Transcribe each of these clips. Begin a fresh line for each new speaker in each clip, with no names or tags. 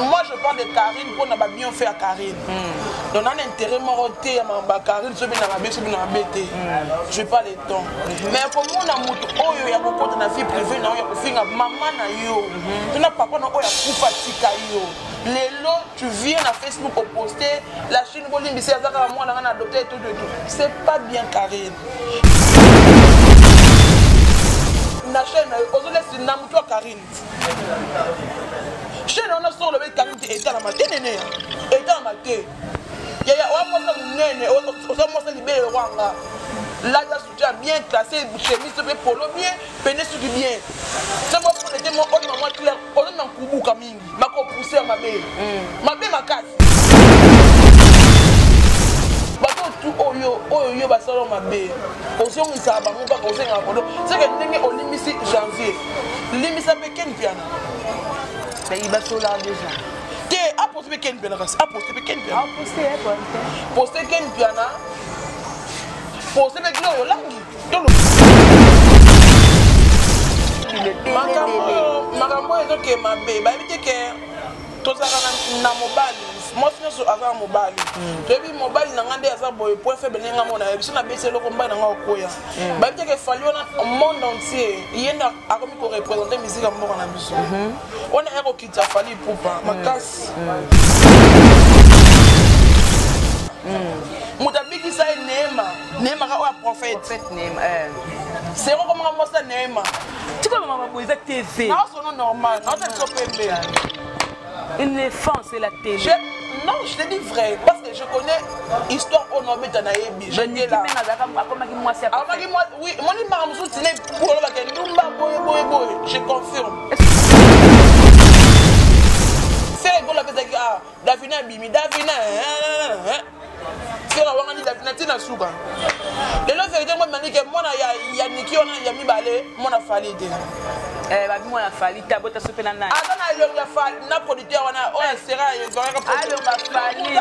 moi je parle de Karine mpona ba bien fait ya Karine hmm. donc nana intérêt moko te ya ba Karine sobi na mabe sobi na mabe te hmm. je pas le temps hmm. mais komona moto oyo ya kokota na vie privée na yo ya kofinga mama na yo to na papa na oyo akufa tika yo lelo tu viens na facebook oposte la chine bolimbisi aza kaka mwana nga na adopte et tout de tout c'est pas bien Karine na chaîne nayo ozolesi na motu ya karine chaîne wana soko olobi karine te etalama te nene etalama te yaya oya mwasa monene oza mwasa libele lokwanga lata soutien bien classé chemise to mpe polo bien pene suki bien soko polete mo oyo mamwa claire ozonga nkubuka mingi bako pousser ya mabe hmm. mabe makasi batu oyo oyo yo basala mabe ozongisaka bango kaka ozengaka kodo seke ndenge olimbisi janvier limbisa mpe ken piana
nayi basola deja te aposte
mpe ken piana kasi aposte
mpe ken piana
poste ken piana poste mpe gloire olangi makambo oyo ezoke mabe bayebi te ke tozalaka na mobali mwasi nyonso aza na mobali hmm. toyebi mobali na ngai nde aza boye point faible ndenge nga mona biso na besi eloko mbai na ngai okoya hmm. bayebi te ke fali wana monde entier ye nde akomi korepresente miziki ya mboka na biso hmm. wana ya fali pupa makasi moto abikisa ye neema neema kaka oyo ya prophète
seko
komaka mwasi ya neema tikolo mama
boye eza tv naosono normal
naoza biso pembe
une enfance et la télé non je te dis
vrai parce que je connais histoire oyo naobeta nayebi akomaki mwasi oui moni mara mosusu olobaka ndumba boye boye boye je confirme sele ekola apesaki a ah, davina abimi davina sele awangani davina ntina suka lelo verité ngo manike mwana ya niki wana ya mibale mwana fali te eh, babi
mwana fali te abota sope na nani aza na elongi ya fali
na producteur wana oyo asera ezalaka alonga fali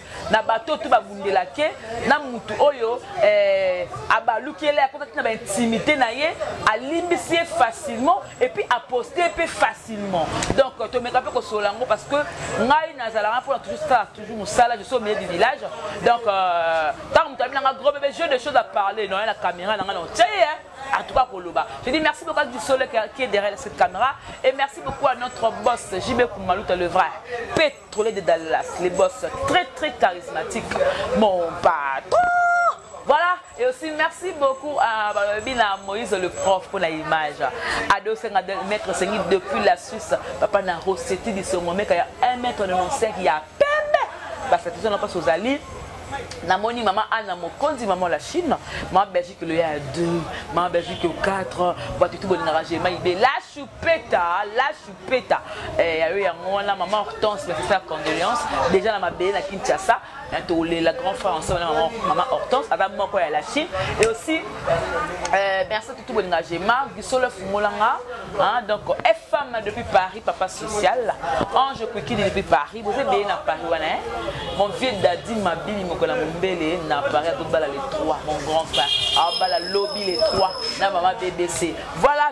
na bato to babundelake na motu oyo eh, abaluki ele akotaki na baintimité na ye alimbisi ye facilement epuis aposte mpe facilement donc tomeka mpe kosolola yango parce que ngai nazalaka mpona toujours sala toujours mosala je suis au milieu du village donc euh, ntango moto abi na nga gros bebe jeu de choses à parler noye na caméra na ngai na otie ye en tout cas Koloba. Je dis merci beaucoup à Dusole qui est derrière cette caméra et merci beaucoup à notre boss JB Koumalouta le vrai. Trolley de Dallas, les boss très très charismatiques. Mon patron Voilà, et aussi merci beaucoup à Babina Moïse, le prof, pour l'image. Ado Senga de Maître Sengi depuis la Suisse. Papa n'a recette du second mec, il y a 1 mètre 95, il y a peine. Parce que tout ça n'a pas sous Ali. namoni mama ana mokonzi mama la chine mama belgique loya ya 2 mama belgique yo 4 bato tu bolingaka gemai be la choupeta la choupeta peta eh, ya yo yango wana maman hortense bapesa condoléance déjà na mabele na kinshasa na tolela grand frère ensemble na maman hortense aza moko ya la chine et aussi eh, merci tutu bolinga gema bisolo efungolanga donc fm depuis paris papa social ange kwikili depuis paris boza ebele na paris wana eh? mon vieux dadi mabili mokola mombele na paris atobala le 3 mon grand frère abala lobi le 3 na mama bbc voilà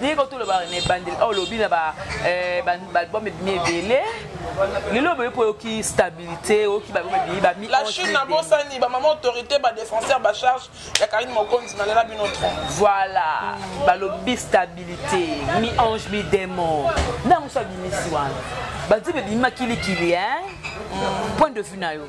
ndenge kaka toloba na ebandeli oyo olobi na baalbum eh, ebimi ebele lelo oboye mpo oyoki stabilité oyoki balbum ebimi bami la chine nabosani
bamama autorité badéfenseur bacharge ya karine mokonzi nalela bino tro voilà
balobi stabilité mi ange mi démon ntango so abimisi wana banzembe ebimi makilikili point de vue na yo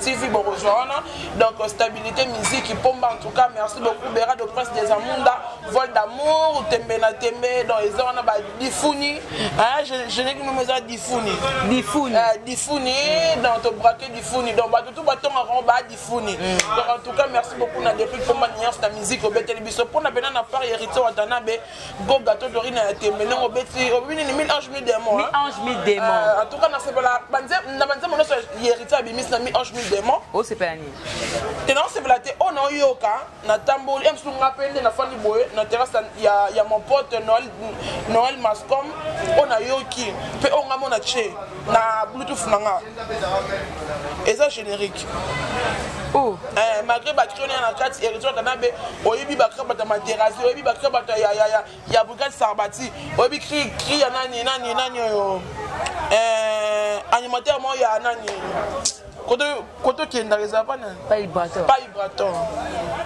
TV bokozwa wana donc euh, stabilité musique pomba en tout cas merci beaucoup bera de prince des amunda vol d'amour tembe na tembe donc eza wana ba difuni hein je je n'ai que nous eza difuni difuni euh, difuni donc to braquer difuni donc ba tout ba tonga ko ba difuni mm. donc en tout cas merci beaucoup na depuis pomba nias ta musique obeteli biso pona bena na part héritier watanabe go gato dorina ya tembe ndenge obeti obebi nini mi ange mi démon mi ange mi démon euh, en tout cas nasepela na banzembo nyonso yeriti abimisi na mi ange mi démon osepela nini
te naosepela
te oyo naoyoka natamboli ya mosusu nga mpe nde nafandi boye na terrasse ya, ya mon pote noel, noel mascom oyo nayoki mpe oyo nga mona tie na bluetooth na nga eza générique oh. eh, malgré batrone ya na kati héritier kanabe oyebi bakrabata materasi oyebi bakrabata ya, ya, ya, ya brigade sarbati oyebi kri kri ya nani nani nani oyo eh, animateur moko ya nani koto okendaka eza pa nani pa ibraton pa
ibraton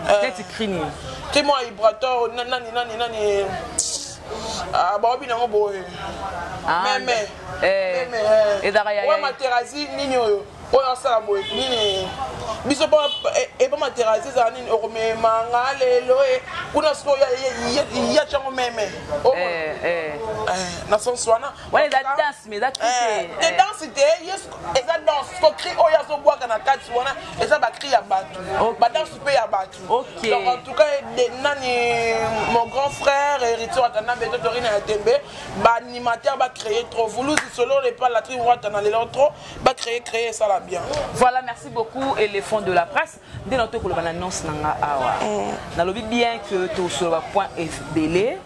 eh, neti
kri nini kri moko ya
ibraton nani nani nani ah, baobi nango boye ah, meme Eh,
ezalaka ya ya materazi nini
oyo oyo asala boye nini biso eh, epa materazi ezala nini okomema nga lelo eh, kuna sikoyo ya cango meme oh. na sens wana wana eza danse mais
eza te danse
te yesu eza danse ko cri oyo azobwaka na kati wana eza bacri ya bato badanse mpe ya bato donc en tout
cas
nani mon grand frère héritier atanda mbe totorina ya tembe ba animateur ba créer trop vuluzi solo le pas la tri wata na lelo trop ba créer créer ça la bien voilà merci beaucoup
éléphant de la presse nde na to koloba na annonce na nga awa mm. na lobi bien que to soloba point ebele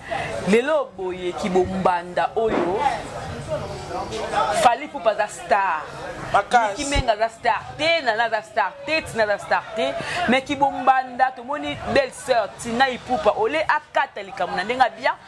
lelo boye ki bombanda oyo fali pupa aza star kimenga aza star te nana aza star te tina aza star te mais kibombanda tomoni belle sœur tina ipupa ole akata likambo na ndenge abia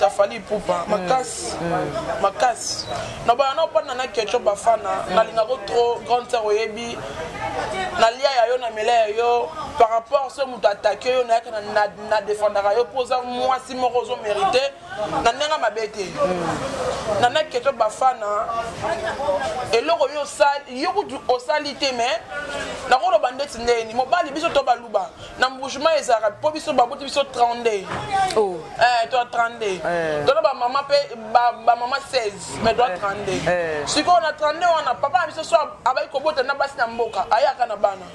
ya fali ipupa makasi makasi na bana na opanda na keco bafana nalingako trop grande sœur oyebi nalia ya yo na mela ya yo par rapport soki moto atake yo nayaka na defendaka yo mpo oza mwasi moko ozo mérite na ndenge mabe te na na keco bafana eloko yo osali yo kutu osali te mais nakoloba ndeti ndeni mobali biso to baluba na mbujuma ezalaka mpo biso baboti biso 32 oh. eh, to 32 eh. tona bamama mpe bamama 16 mais to 32 eh. eh. sikoyo na 32 wana papa na biso so abaki kobota na basi na mboka ayaka na bana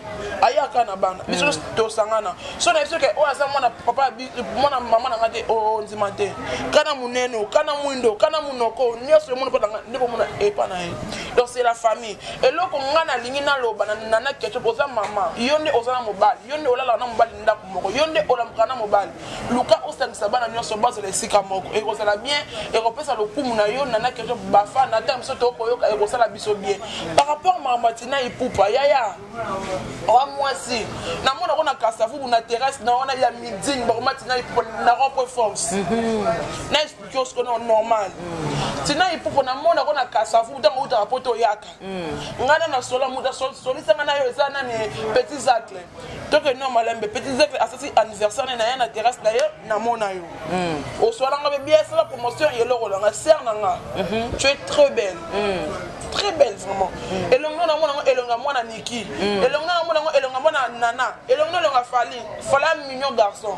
ayaka na bana hmm. biso tosangana so na biso ke oyo oh, aza mwana papa mwana mama na nga te ondima oh, te kana monene kana mwindo kana monoko nyonso emoni mpo nde komona epa na ye donc c'est la famille eloko ngai nalingi naloba na nana ketchup oza mama yo nde oza na mobali yo nde olalaka na mobali ndako moko yo nde olamuka na mobali luka osangisa bana nyonso bazala esika moko ekozala bien ekopesa lokumu na yo nana ketchup bafa na ntango biso tokoyoka ekosala biso bien par rapport makambo atina ipupa yaya oa mwasi namona ko na kasavubu na terrasse na wana ya midini bakoma tina ipupa na rond point force mhm. kiosque no normal tina ipupo na mona ko na kasavu ntango utaka po toyaka ngai na nasola moto asolisanga na yo eza nani petit zacle toke no malembe petit zacle asasi anniversaire ne na ye na terrasse na ye namona yo osolanga be bia esala promotion yeloko langa ser na nga tu es très belle très belle vraiment elongi no namona ngo elongi ya mwana niki elongi no namona ngo elongi ya mwana nana elongi no elongi ya fali fala mignon garçon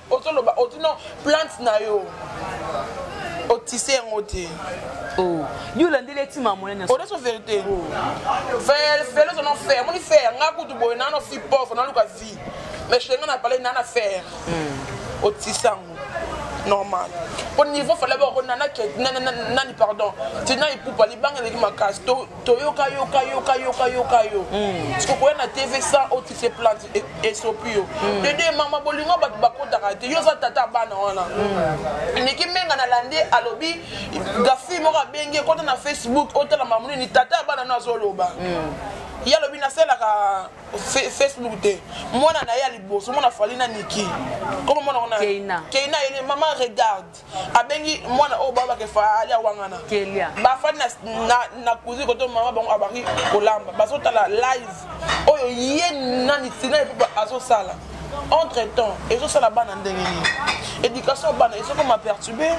ozoloba otino plante na yo otise yango te oh.
yo olandeli etima monene odeso verité oh.
fele ozono fer moni fer nga kutu boye nano fi pauvre naluka vie mais chenga na pale nana fer hmm. otise yango normal mpo niveau fale bakona nani pardon tina ipupa libanga eleki makasi to toyoka yoka yoka yoka yoka yo hmm. siko koya na tv sans otise plante e, esopi yo hmm. dede mama bolingo bato bakotaka te yo oza tata ya bana wana hmm. niki menga na lande alobi gafi moko abengi ekota na facebook otala mamu nini tata ya bana no azoloba ye alobi nasalaka facebook te mwana na ye ya liboso mwana fali na niki koma mwana wana keina ayeli mama regarde abengi mwana oyo baba kefa ali awangana bafandi na kuzi koto mama bango abaki kolamba bazotala live oyo ye nani tina epupa azosala entre temps ezosala bana ndenge nini éducation ya bana ezokoma perturbe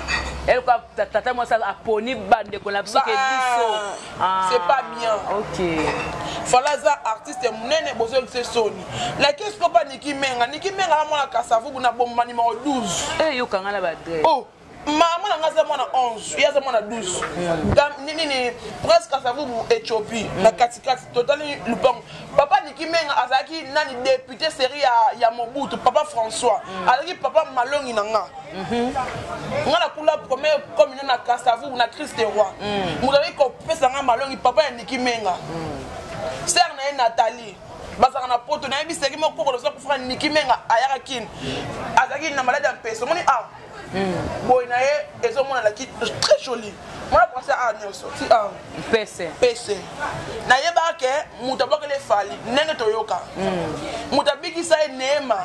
tata mwasi aponi bandeko na biso ke biso Ah, c'est pas
bien ok
fala aza
artiste ya monene bozoyebisa soni lakesi kopa niki menga niki menga na mwana kasavubu na bomba nimero 12 eh, eyokanga na badre
oh. mama
na ngai aza mwana 11 ye aza mwana 12 nini presque asavubu ethiopie mm. na katikati totali lupango papa niki menga azalaki nani depute serie ya, ya mobutu papa françois mm. azalaki papa malongi na ngai Mhm. nga na kula premier commune na kasavu na crise de roi mm. moto azali kopesa nga malongi papa ya niki menga mm. sere na ye nathalie bazalaka na poto nayebi seki moko kokolo oza kofaka niki menga ayaka kini azalaki na maladi ya mpeso omoni a ah, mm. boye na ye ezomonana ki très joli mwana prince a nyonso ti a mpese mpese nayebaka ke moto abwakeli efali ndenge toyoka moto abikisa ye neema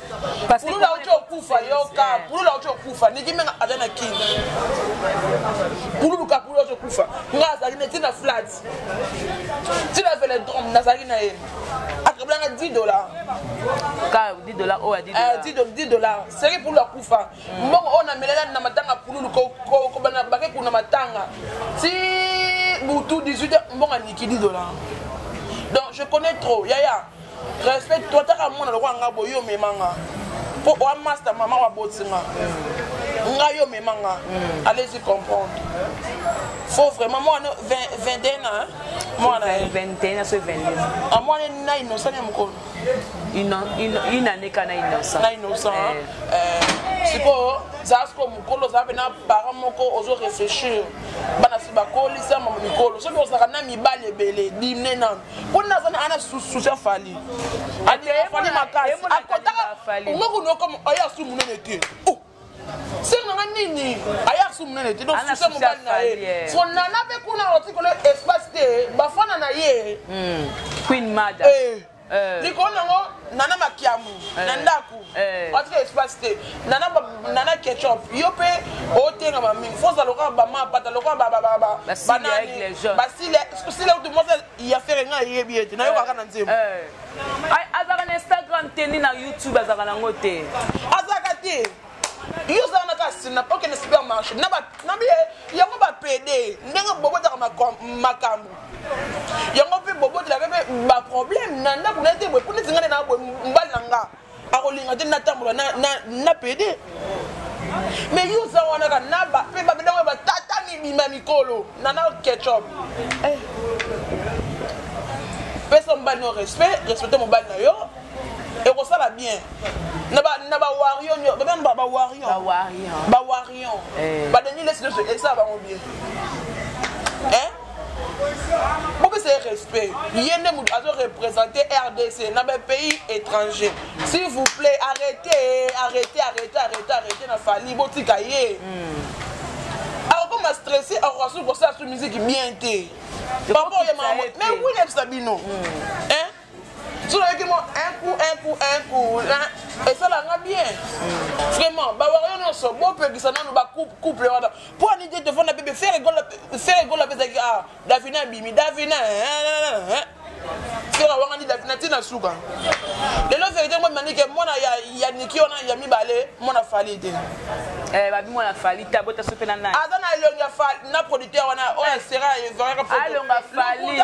Parce que pulula uti okufa yoka
eh. pulula uti okufa niki menga aza na kin pululuka pulula uti okufa nga azalaki na ntina flat ntina veledrome nazalaki na ye akabolanga 10 dollar ka 10 dollar oyo ya 10 dollar 10 eh, dollar seki pulula kufa hmm. mbongo oyo namelela na matanga pululu kobana bake kuna matanga ti butu 18 mbongo aniki 10 dollar donc je connais trop yaya respect to ataka mwana lokola nga boye omema nga mpo oa masta mama waboti nga ngai omema nga mm. allez y comprendre faut vraiment mwana 21 ans mwana 21 aso
22 ah mwana na innocent
ya mokolo
une année ka na innocent na innocent eh.
eh, sikoyo zala sikoyo mokolo ozala mpe na parent moko ozo réfléchir bana si bakolisa mama mikolo soki ozalaka na mibali ebele dimne nano mpo nini aza ana susi afali afali makasi akotaka ngoku noko oyo asu monene te oh! senga nga nini aye asu monene te donc susi mobali na ye fo nana mpe kuna otikolo espace te bafana na ye hmm. queen
mada eh. eh. likolo
nango nana makiamu eh. na ndako Eh. atika espace te nana nana ketchup yo mpe otengama mingi foza lokola bamapata lokola bananibasile utu mwasi ya fere ngai ayebi ye te nayokaka na nzembo eh. Eh.
azalaka na instagram te ni na youtube azalaka nango te azalaka te
yo ozala na kasi na okende supermarché na yango bapede ndenge bobotaka makambo yango mpe bobotelaka mpe baproblème na ndako na te boye mpo neti ngai nde na boye mbali na nga akolinga te natambola na pede mais yo oza wana ka na mpe babendako ya batata mibima mikolo nana ketchup eh. pesa mobali no respect respecte mobali na yo ekosala bien na bawarion babena bawarion bawarion badengi lesi nyonso esala bango bien bopesa ye respect ye nde moto azo représente rdc na bapays étranger s'il vous plaît arrêtez arrêtez arrêtez arrêtez arrêtez na fali botika ye mm. akokoma stressé akokasuki kosala su miziki bien te papa oyemama mais oui nayebisa bino mm. soki mo un coup un coup un coup esala nga bien vraiment bawario nyonso bopekisa nano bacouple wana mpo ani te tofanda bebe fere egola apesaki a ah, davina abimi davina fere awangani davina ntina suka lelo verité ngo manike mwana ya niki wana ya mibale mwana fali te eh, babi mwana
fali ta bota sope na nani aza na elongi ya fali
na producteur wana oyo asera evaraka alonga fali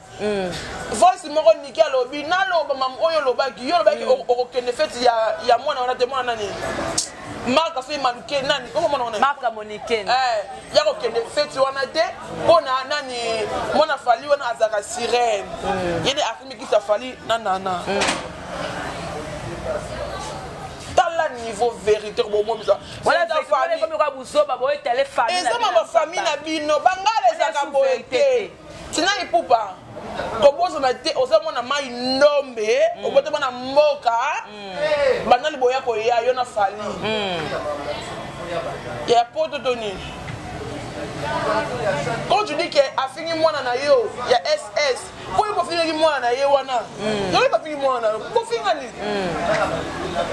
Mm.
voice moko niki alobi naloba mam oyo olobaki yo olobaki mm. okokende feti ya, ya mwana wana te mwana nani marka soki maluke nani okomona wana marka moniken eh,
ya kokende
feti wana te mpo na nani mwana fali wana azalaka sirene mm. ye nde afimikisa fali na nana mm. tala niveau vérité kobomomisa
eza mama famille na
bino bangala ezalaka boye te tina ipupa kobosana te oza mwana mai ndombe mm. obota mwana mboka mm. banda liboya koya yo na fali mm. ya poto to nini quand tu dis que afingi mwana na yo ya ss mpo yo bofingaki mwana na ye wana mm. yoki bafingi mwana na yo bofinga nini mm.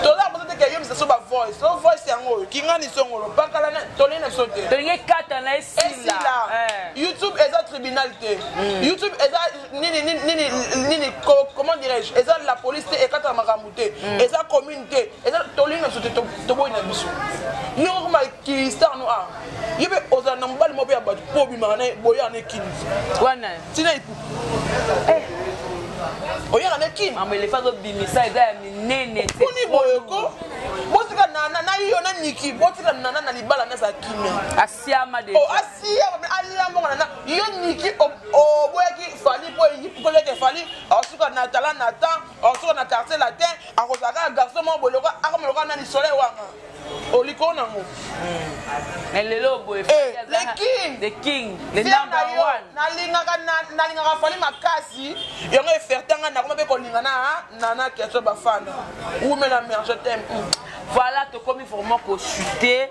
tolaa boza teke yo misaso bavoice o voice yango oyo kingani songolo pakala tolei na biso te tolingi ekata na
esila eh. youtube
eza tribunal te hmm. youtube eza nini nini nini nini comment dirais-je eza la police te ekataka makambo te hmm. eza commune te eza tolingi na biso te toboyi na biso yo okoma kilistar no a ye mpe ozala na mobali moko mpe ya bato mpo obimaka na boyaka na ekini wana ntina
ipu eh.
oyaka na ekini mambo elefa azobimisa
eza ya minene kuni boyoko
botika nana na yo na niki botika nana na libala nazala kimia siama de oh
asiama mais
alamongana na yo niki oboyaki fali po koleke fali asuka na tala na temps asuka na quartier latin akozala kaka garçon moko boye lokola akoma lokola nani soleil wanga olikolo nango mais
lelo boye le king the king the number one nalingaka nalingaka
fali makasi yango efertanga nakoma mpe kolinga na nana keso bafana wumela merge tem voilà tokomi
vraiment kochute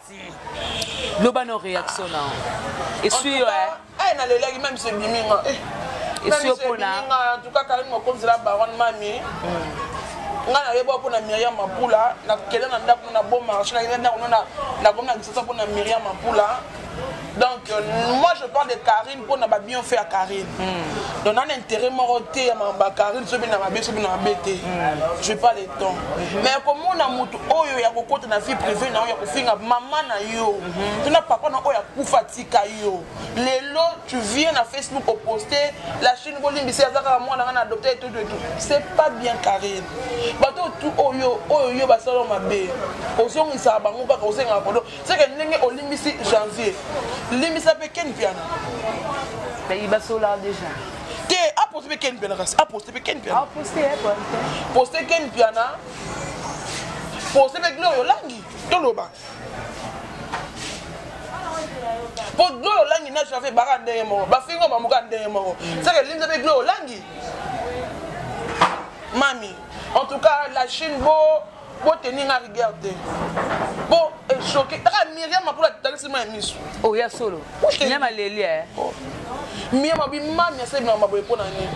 loba no réaction na esui yo eh na lelaki
même c'est biminga esui yo
pona en tout cas Karine
mokonzi la baronne mami hmm. nga na yeba pona Myriam Mapula na kele na ndaku na bon marché na yeba ndaku na na gomna kisasa pona Myriam Mapula donc moi je parle de carine mpo na babion fait ya carine mm. donc nana intérêt moko te ya bacarine soki bina mabe soki bina mabe te hmm. je parle de temps hmm. mais komona moto oyo ya kokota na vie privée na yo ya kofinga mama na yo hmm. to na papa na oyo akufa tika yo lelo tu viens na facebook oposte la chine bolimbisi aza kaka mwana ngai na adopte etout etout c'est pas bien carine bato oyo oyo yo basala mabe ozongisaka bango kaka osengaka kodo seke ndenge olimbisi janvier limbisa mpe ken piana
bayi basola déjà te aposte
mpe ken piana kasi aposte mpe ken piana
poste ken
piana poste mpe gloria olangi toloba mpo gloria olangi na janvier baka ndenge moko bafingo bamoka ndenge moko mm. seke limbisa mpe gloria olangi mami en tout cas la chine bo Bo tenir nga rigueur te. Bo echoqué. Taka Myriam apula talisi ma misu. Oh ya solo.
Myriam aleli eh. Oh.
Myriam abi mami ya sebi na maboye pona nini?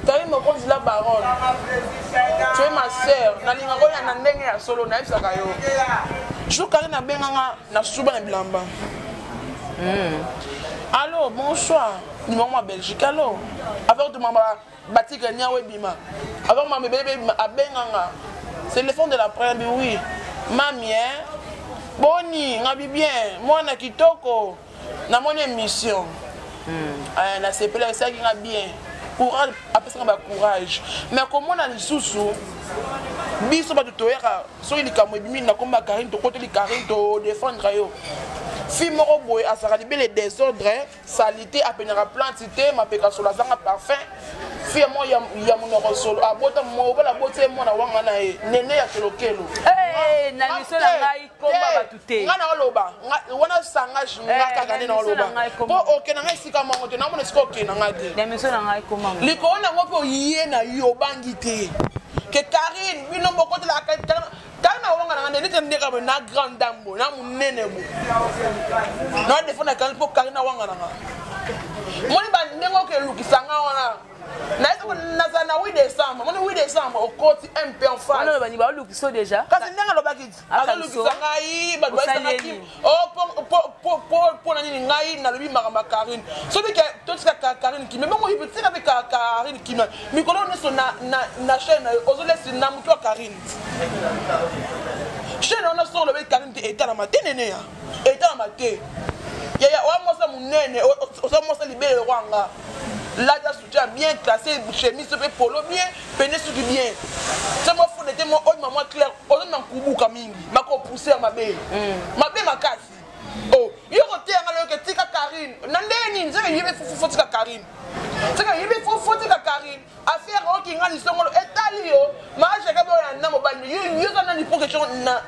Tayi mokonzi la baronne. Tu es ma sœur. Nalinga ko ya na ndenge ya solo na yebisaka yo. Jour kali na benga nga na suba na bilamba. Mm. Allô, bonsoir. Numéro ma Belgique. Allô. Avec de maman batika niawo ebima avant mama ebele ebima abenganga c'est le fond de la première bi oui mami hein boni ngabi bien mwana kitoko namoni émission hmm. eh, nasepela esalaki nga bien courage apesaka bacourage me komona lisusu biso bato toyaka soki likambo ebimi nakoma karine tokoteli karine todefendre yo fi moko boye azalaka libele desordre salite apendaka plante te mapeka solo azanga parfum fille mo ya, ya monoko solo abota mobala aboti ye mwana wanga na ye nene ya kelokelo hey, na
liso na ngai komba bato te ngai naoloba
wana sangage nga eh, kaka nde naoloba mpo okenda ngai esika mango te namona esika okenda ngai te na miso na ngai komba
likolo nango mpe
oye na yo obangi te ke karine bino bokotelaka tala na wanga nanga ndenete ndeka boye na grande dame boye na monene boye na defanda kani mpo kari na wanga nanga moni bandenge oke elukisanga wana nazala na 8 décembre moni 8 décembre okoti mp enfacebalukisa deja
kasi ndenge alobaki
azolukisa ngai bato baisangaki mpona nini ngai nalobi makambo ya karine soki totika karine kimia bongo ibe tika mpe karine kimia mikolo nyonso na chaine na yo ozolesi na motu ya karine chaine wana soko olobi karine te etalama te neneya etalama te yaya oya mwasa monene oza mwasa libele lokwanga lata soutien bien classé chemise mpe polo bien pende suki bien se mwa fone te mwa oyo mamwa claire ozo na nkubuka mingi makopousse ya mabe mm. mabe makasi o oh, yo koteya nga loyoke tika karine na ndenge nini seke yebi fofo tika karine seke yebi fofo tika karine affaire oyo kingani songolo etali yo maage ekabi oyo na mobali yo yo za nani pour question na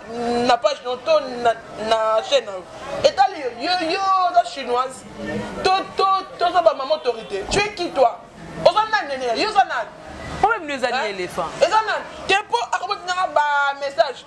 na page no to na na chaîne na yo etali yo yo yo oza chinoise to to toza ba mama autorité tu es qui toi oza nani nene yo oza nani problème no eza ni
éléphant eza nani te
mpo akobotinanga ba message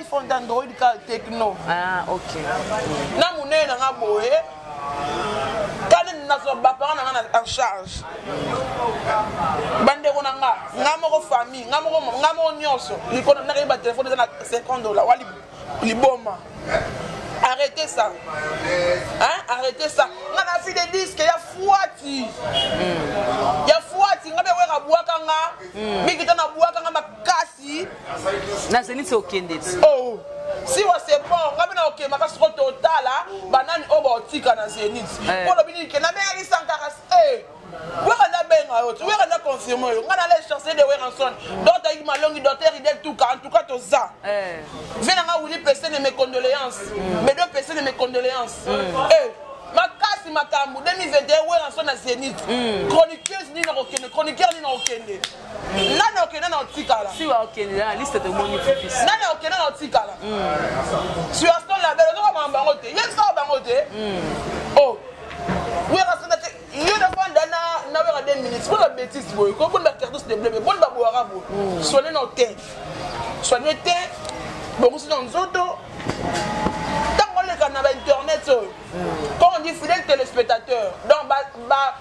iphone ta android
ka techno ah, okay.
na monene
nanga boye kani nazwa bapara nanga na en charge bandeko na nga nga moko famille nga moko nga moko nyonso likolo nakei batelefone eza na 50 dola wa liboma arrêtez ça hein arrêtez ça nga na fi de disque ya fuati hmm. ya fuati nga bewera bwaka nga hmm. mikita na bwaka nga makasi ti na
zenith okende ti oh.
siwa sepor ngai bina okemaka soko totala banani oyo baotika na zenith eh. mpo olobi nini ke nabengaki sankaras eh. wera nabenga yo ti wera na confirme yo ngai nala echanse de weranson dot ayiki malongi doter idel tuka en tout cas toza eh. vie na ngai wili pese ne mes condoléances bedo mm. pese ne mes condoléances mm. eh. makasi makambo 2021 weranson na zenith mm. chroniqueuse nini nakokende chroniqueur nini nakokende nani okende na otikala si okende na
liste tomoni fifis nani okende na otikala
hmm. sur son label ozoka mama bango te ye saka bango te hmm. o oh. wera sanda te yo nafanda na na wera de minutes boni babétise boye ko boni bacartus de bleu boni baboyaka boye hmm. soigne na te soigne te bongosi na nzoto ntango oleka na bainternet oyo quand on dit fidèle téléspectateur donc ba, ba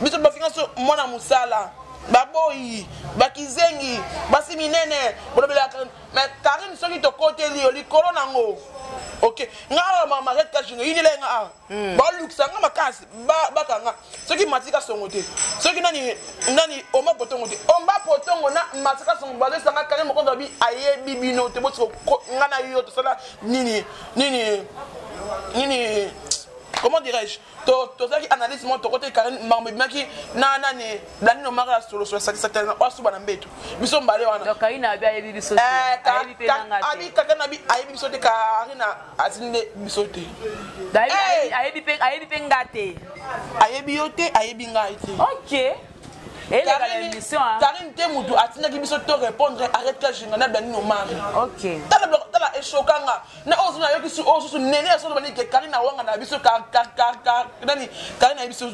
biso bafinga so mwana mosala baboyi bakizengi basi minene bolobelaka mais karine soki tokoteli yo likolo nango ok nga awa mamariet kajino yinela ye nga awa hmm. balukisa nga makasi baka nga soki matika songo te soki nani nani oma potongo te oma potongo na matika songo bazosanga kane mokonzi abi ayebi bino te botiko nga na yo tosala nini nini nini comment dirais-je tozalaki analyse moko tokotaki karine mambo ebimaki na nani blani nomaka ya solosolo sakisakisana oyo asuba na mbeto biso mbale
wanaabikaka na bi ayebi biso
te karine azini nde biso te
ayebi mpe nga te ayebi yo
te ayebi ngai te ok
karine te motu
atindaki biso to répondre arrête ka jinga na blani nomaka
tala echoka
nga na oyo suna yoki oyo susu nene ya soloba nike kari na wanga na biso nani kari na ye biso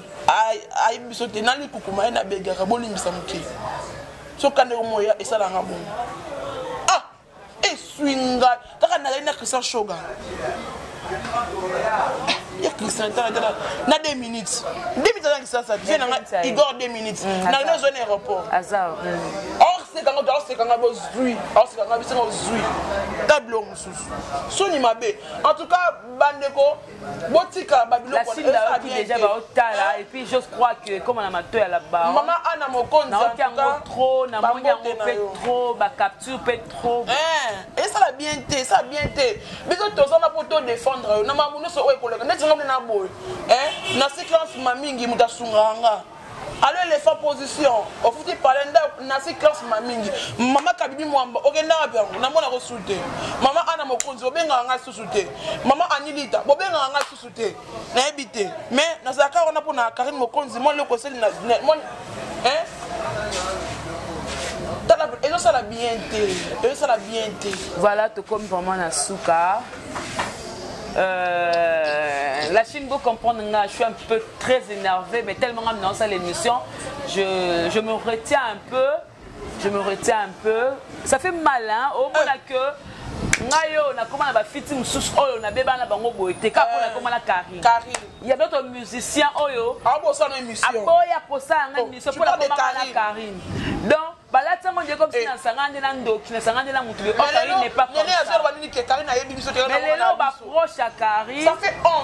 ayebi biso te nani kukuma ye na begaka bolimbisa mokili soka ndeko moya esalanga bongo ah eswi ngai kaka nazali na christian shoga ya christian tala tala na 2 minutes 2 minutes aza kisasa vie na nga igor 2 minutes na lino ozwa na aéroport
osekanga
to osekanga bozwi osekanga bisenga ozwi ta biloko mosusu soni mabe en tout cas bandeko botika babilokootala
epuis j'ose croire que ekoma na mato ya labaomama ana mokonzi
naoki yango trop
namoni yango mpe trop bacapture mpe trop eh, esala
bien te esala bien te biso toza na mpo todefendre yo na makambo nyonso oyo ekoleka ndeti nga mpe na boye eh, naseki ansima mingi moto asungaka nga alo elefa position ofuti pale ndako nasi classe ma mingi mama kabibi mwamba okenda wapi yango namona kosu te mama ana mokonzi bobengaka ngai susu te mama anilita bobengaka ngai susu te nayebi te mais nazalaka wana mpona karine mokonzi mwa eloko esali na ezosala bien te ezosala bien te voilà tokomi vraiment
na suka Euh, la Chine, vous comprendre, je suis un peu très énervé, mais tellement que dans l'émission, je, je me retiens un peu. Je me retiens un peu. Ça fait mal, hein? Au moins euh. que ngai oyo nakoma na bafiti mosusu oyo nabeba na bango boye te kaka mpo euh. nakoma na karine ya d'autres musiciens oyo ah, aboya
posa yanga
oh, émission mpo nakomaka na karine donc balati yango ndeko bisi eh. na nsanga nde na ndoki na nsanga nde na motu lelo baproche ya karine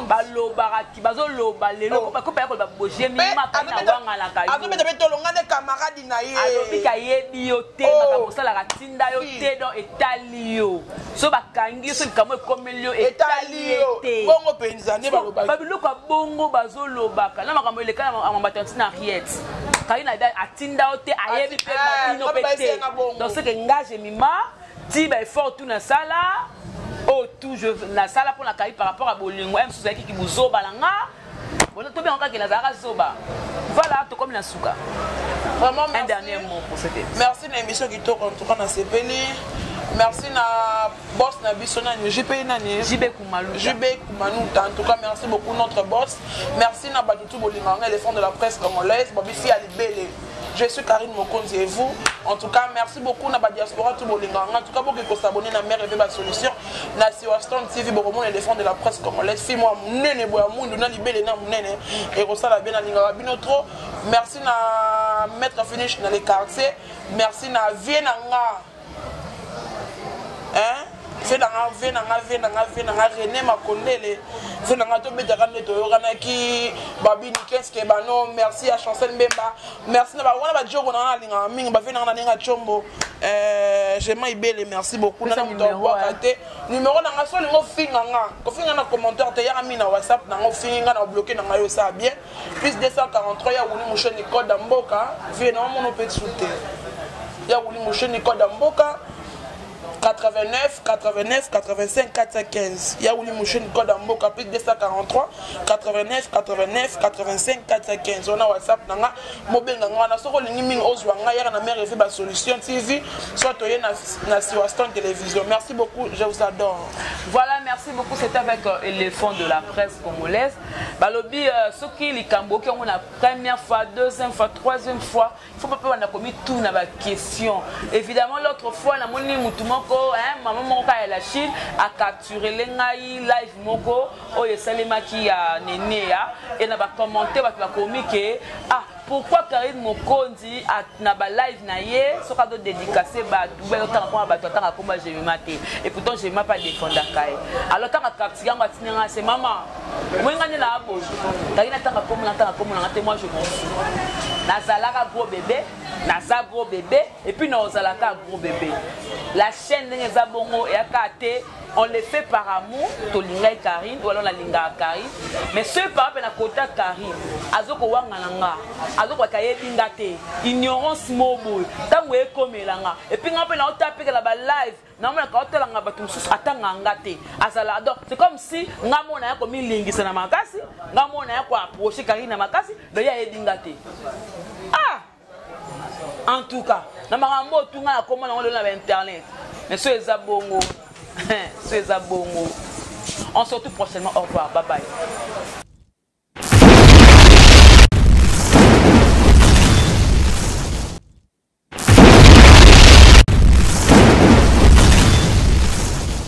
balobaka
bazoloba lelo oh. bakopa ya koloba bojemi eh, maka na wangalaka yoazobeta mpe tolonga nde
kamaradi na ye alobi kayebi yo
te oh. makambo osalaka tinda yo te don etali yo so bakangi yo so likambo ekomeli yo etali ye te bongo mpenza nde balobaki
babiloko ya bongo
bazolobaka na makambo eleka na bato ya ntina riete kaina atinda yo te ayebi mpe babino mpe te donc soki nga jemima ti ba effort tout na sala oh tout je na sala pona kayi par rapport à bolingo em suzaki ki buzoba na nga bona to bien kaka na zara zoba voilà to comme na suka vraiment
un dernier mot pour cette
émission merci na émission qui tourne
en tout cas na sepeli merci na boss na biso nani jp nani jb kumaluta jb kumaluta en tout cas merci beaucoup notre boss merci na bato tout bolinganga éléphant de la presse congolaise babisi ya libele Je suis Karine Mokonzi et vous En tout cas, merci beaucoup na ba diaspora tout bolinga. En tout cas, beaucoup qui s'abonner na mère et ba solution. Na si Waston TV bokomo les défendre de la presse comme les filles moi munene boya mundu na libele na munene et ko sala bien na linga bino trop. Merci na maître finish na les quartiers. Merci na vie na nga hein vie na nga vie na nga vie na nga vie na nga René Makondele vie na nga tobetaka nde toyokanaki babini keske bano merci ya chancel mbemba merci na wana bajogo na nga nalingaka mingi bavie na nga nalinga combo euh, jema ibele merci beaucoup nana moto abwaka te numero na nga so olingi ofinga nga kofinga na commentaire te yaka mingi na whatsapp na nga ofingi nga na obloke na nga yo osala bien Plus 243 ya Wuli Mouche Nicole da Mboka, vie na mono pe tsuter. Ya Wuli Mouche Nicole da Mboka, 89 89 85 415 ya wuli musheni code ya mboka plus 243 89 89 85 415 wana whatsapp na nga mobenga nga wana soki olingi mingi ozwa nga yaka na mare evi basolution tv soit toye na, na siwaston télévision merci beaucoup je vous adore voilà merci
beaucoup c'est avec euh, éléphant de la presse congolaise balobi euh, soki likambo oki yango na première fois deuxième fois troisième fois il faut papa banda komituna baquestion évidemment l'autre fois namoni motu moko mama moko kaka ya la chine acapturele ngai live moko oyo esalemaki ya neneya e na bacommente bato bakomi ke ah pourquoi Karine Mokonzi na ba live na ye soki azo dédicacer bato ou bien azotanga mpona bato atanga komba jemima te et pourtant jemima mpe adefendaka ye alors tanga kaptiki yango atindi nga se mama omoi nga nde na aboyi kaki natanga kombo natanga kombo nanga te moi je monsu nazalaka gros bebe naza gros bebe epuis naozalaka gros bebe la chaîne ndenge eza bongo eyaka te on le fait par amour tolingai karine ou alors nalingaka karine mais soki papa mpe nakota karine azokowangana nga azokoka yebi nga te ignorance moo boye ntango ekomela nga epui nga mpe naotapekela balive namonaka otalanga bato mosusu atanga nga te azala donc c'est comme si nga mona ya komilingisa na makasi nga mona ya koaproche karine na makasi donc ye ayebi nga te ah en tout cas na makambo oyo tunga na kombo nango lelo na bainternet mais so eza bongo so eza bongo on se retrouve prochainement au revoir bye bye